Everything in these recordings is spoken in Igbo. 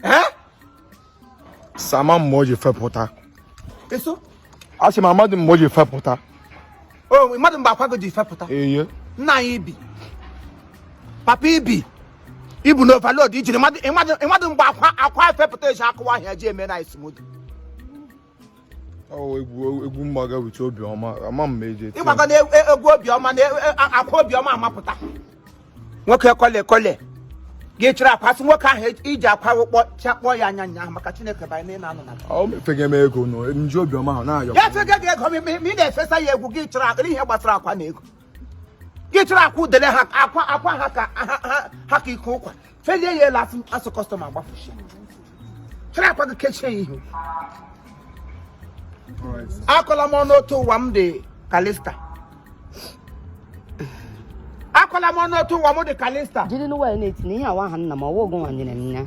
ee sama mgbe o ji fepụta eso a sị m amadị mgbe o ji fepụta o mmadụ mgbe akwago ji fepụta eye nna anyị ibi papa ibi ibu na overload ijiri mmadụ mgbe akwa akwa fepụta eji akụwa ahịa ji eme na isimodo egwu mgbaga with obiọma ama m eji eti ịgbaga na egwu obiọma na akwa obiọma amapụta nwoke kole kole gị chịrị akwa sị nwoke ahụ iji akwa ụkpọ chakpọ ya anya nya maka chineke banye na ị na-anọ na ọ mefega m ego nụ nji obiọma ahụ na-ayọ ya fega gị ego ma ị na-efesa ya egwu gị chọrọ ihe gbasara akwa na ego gị chịrị akwa udele ha akwa ha ka ike ụkwa felie ya elu afụ asụ kọstọma gbafuchi chịrị akwa gị kechie ya ihu akọla m ọnụ otu ụwa m dị kalista akọla m ọnụ otu ụwa m dị kalista jiri n'ụwa ya na-eti na ihe awa aha nna m ọwa ogo nwanyere m ya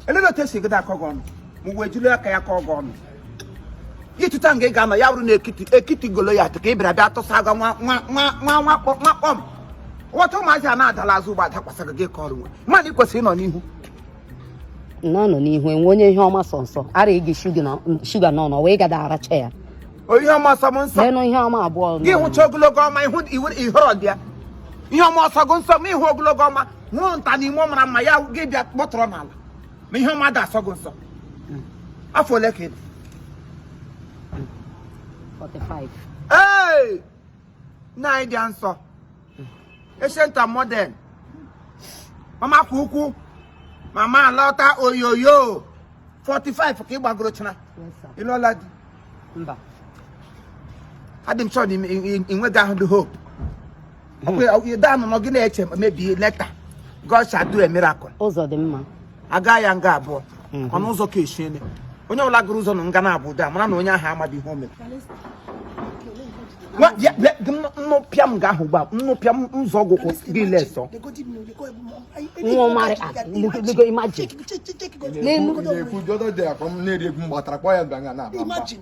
elee otu esi gada akọ gị ọnụ ma ụwa jiri aka ya kọọ gị ọnụ ịtụta nga ị ga-anọ ya bụrụ na ekiti Goliath ka ị bịara bịa tụsa aga nwa kpọm ọtụ ụmụazị a na-adala azụ ụgbọ adakwasara gị ka ọrụ nwe mmadụ ị kwesịrị ịnọ n'ihu na ọ nọ n'ihu enwe onye ihe ọma sọ nsọ ara gị shuga nọ wee gada aracha ya ihe ọma ọ sọ m nsọ leenụ ihe ọma abụọ gị hụcha ogologo ọma ị họrọ dị ya ihe ọma ọ sọ gị nsọ ma ị hụ ogologo ọma hụ nta na ime mara mma ya gị bịa kpọtụrụ n'ala ma ihe ọma dị asọ gị nsọ afọ ole ka ị dị 45 ee nna anyị dị nsọ ancient and modern mama kwa ukwu mama alọta oyoyo 45 ka ị gbagoro china yes sir ị lụọla di mba adị m sure na ị- ị- ị nweghị ahụ dị hope danụnọ gị na-eche maybe later God shall do a miracle ụzọ dị mma a gaa ya nga abụọ mhm. ọnụ ụzọ ka eshi ene onye ọbụla gụrụ ụzọ na nga na-abụ ụda mara na onye ahụ amaghị ihe o mere nnụpịa m ga-ahụ gba nnụpịa m ụzọ ọgwụkwụ gị lesọ nwa ọmarị imagine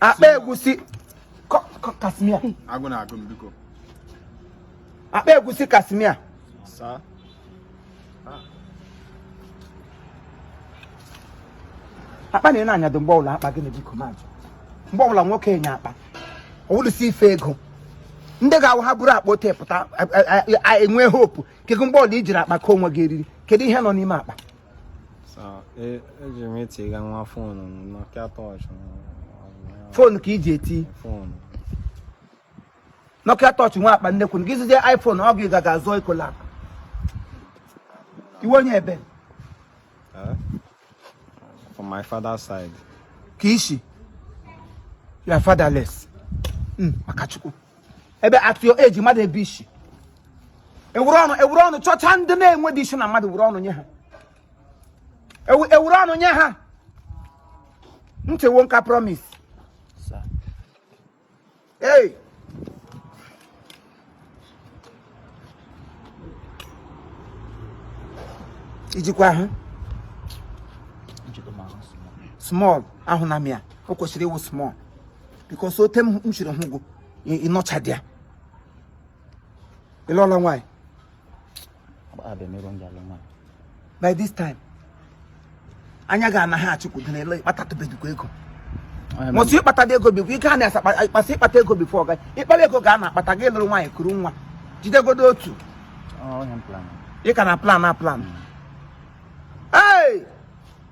akpa egwusi kasimia agụ na-agụ m biko akpa egwusi kasimia sir akpa na ị na-anyado mgbe ọbụla akpa gị na biko majụ mgbe ọbụla nwoke anya akpa ọwụlụsi ife ego ndị ga-awụ ha buru akpa ote pụta enwe hope kedu mgbe ọbụla i jiri akpa kee onwe gị eriri kedu ihe nọ n'ime akpa eji m etiga nwa foonu m Nokia torch foonu ka iji eti foonu Nokia torch nwere akpa nnekwu gị zụzie iPhone ọ gị ga-aga zụọ Ecolac ị wụ onye ebe from my father's side ke ishi you are fatherless maka Chukwu ebe at your age mmadụ ebe isi ewuru ọnụ chọcha ndị na-enwedị isi na mmadụ wuru ọnụ nye ha ewuru ọnụ nye ha nchewo nka promise Sir. hey i jikwa ahụ small ahụ na mịa o kwesịrị ịwụ small because otu m shiri hụ gụ ị nọchadị ya ị lụọla nwaanyị by this time anya gị anaghị achụkwudo na ele ị kpatatụbedikwa ego mụ sị ịkpata ego bikwa ike a na-asakpasị ịkpata ego before ọga ịkpara ego ga a na-akpata gị lụrụ nwaanyị kuru nwa jidegodo otu ị ka na-plan a plan hmm.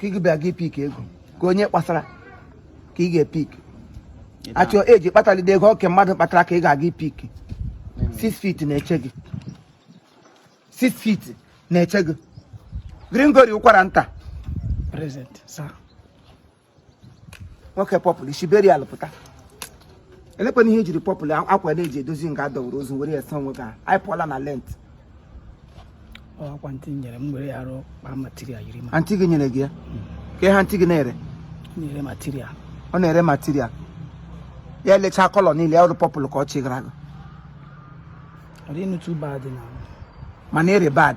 ka ị bịa gị pick ego ka onye kpasara ka ị ga-epick at your age kpatalide ego ọ ke mmadụ kpatara ka ị ga-aga ipick 6 feet na-eche gị 6 feet na-eche gị Gringori ụkwara nta present sir nwoke purple i si burial pụta elekwana ihe ejiri purple akwa a na-eji edozi nga a dọwụrụ ozu were ya sa onwe gị ahụ. anyị pụọla na Lent ọkwa antị nyere m were ya arụ kpaa material yiri ma antị gị nyere gị ya ka ihe antị gị na-ere nyere material ọ na-ere material ya elechaa colour niile ya awụrụ purple ka ọ chịgara gị ọ dịghị too bad na mana ere bad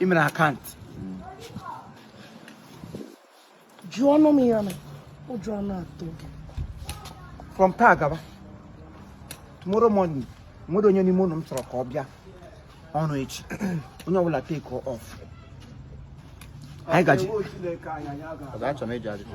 i mere akaụntụ jụọnụ m ya na ụjọ ọ na-atụ gị from taa gaba tomorrow morning enwedị onye n'ime unu m chọrọ ka ọ bịa ọrụ echi onye ọbụla take off anyị gaji Chineke anyị anyị aga Ọzọ achọrọ m ịjụ ajụjụ.